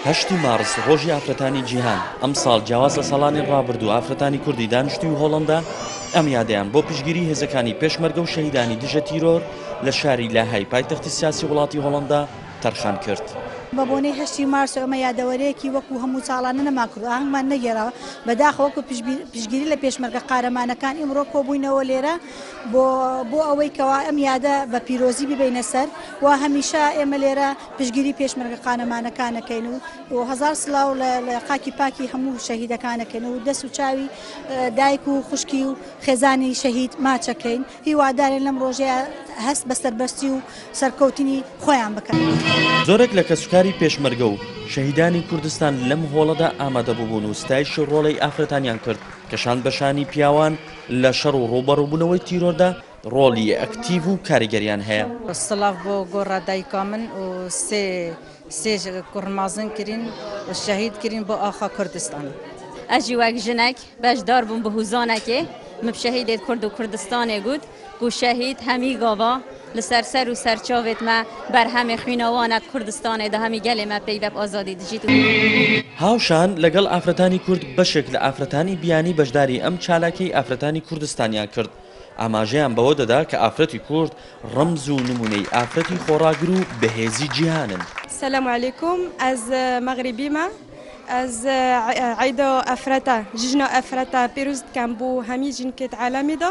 هەشتی مارس ڕۆژی ئافرەتانی جیهان ئەمساڵ جیاواز لە ساڵانی ڕابردوو ئافرەتانی کوردی دانیشتوی هۆڵندا ئەم یادەیان بۆ پشگیری هێزەکانی پێشمەرگە و شەهیدانی دژە تیرۆر لە شاری لاهای پایتەختی سیاسی وڵاتی هۆڵندا تەرخان کرد. بە بۆنەی هەشتی مارس و ئەمە یادەوەرەیەکی وەکو هەموو ساڵانە نەمان کرد و ئاهەنگمان نەگێڕاوە، بەداخەوە وەکو پشگیری لە پێشمەرگە قارەمانەکان ئیمڕۆ کۆبووینەوە لێرە، بۆ بۆ ئەوەی کەوا ئەم یادە بە پیرۆزی ببینە سەر و هەمیشە ئێمە لێرە پشگیری پێشمەرگە قانەمانەکانەکەین و و هزار سلااو لە قاکی پاکی هەموو شەهیدەکانەکەن و دەست و چاوی دایک و خوشکی و خێزانی شەهید ماچەکەین هیوادارێن لەم ڕۆژەیە هەست بە سەربەستی و سەرکەوتنی خۆیان بکەن. زۆرێک لە کەسوکاری پێشمەرگە و شەهیدانی کوردستان لەم هۆڵەدا ئامادەببوون و ستایشی ڕۆڵەی ئافرەتانیان کرد کە شان بە شانی پیاوان، لە شەڕ و ڕووبەڕووبوونەوەی تیرۆردا ڕۆڵی ئەکتیڤ و کاریگەریان هەیە. سڵاڤ بۆ گۆڕا دایکا من و سێ سێ کوڕ مازن کرین و شەهید کرین بۆ ئاخا کوردستان. ئە ژی وەک ژنەک بەش دار بووم بە هووزانە کێ مب شەهیدێد کورد و کوردستانێ گووت گوو شەهید هە می گاوا لەسەر سەر و سەر چاوێت مە بەرهەمێ خویناوانەت کوردستانێ دە هەمی گەلێ مە پێی بەپ ئازادی دژیت و. هاوشان لەگەڵ ئافرەتانی کورد بەشێک لە ئافرەتانی بیانی بەشداری ئەم چالاکیەی ئافرەتانی کوردستانیان کرد ئاماژەیان بەوە دەدا کە ئافرەتی کورد ڕەمز و نمونەی ئافرەتی خۆڕاگر و بەهێزی جیهانن. سلام علیکم ئەز مەغریبیمە ئەز عید ئەفرەتە ژژنە ئەفرەتە پیروزت کەم بو هەمی ژینکەێت عالەمیدا.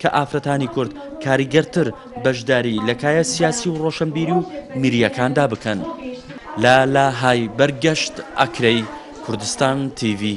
کە ئافرەتانی کورد کاریگەرتر بەشداری لە کایە سیاسی و ڕۆشنبیری و میرییەکاندا بکەن. لە لە های بەر گەشت ئەکرێی کوردستان تیڤی.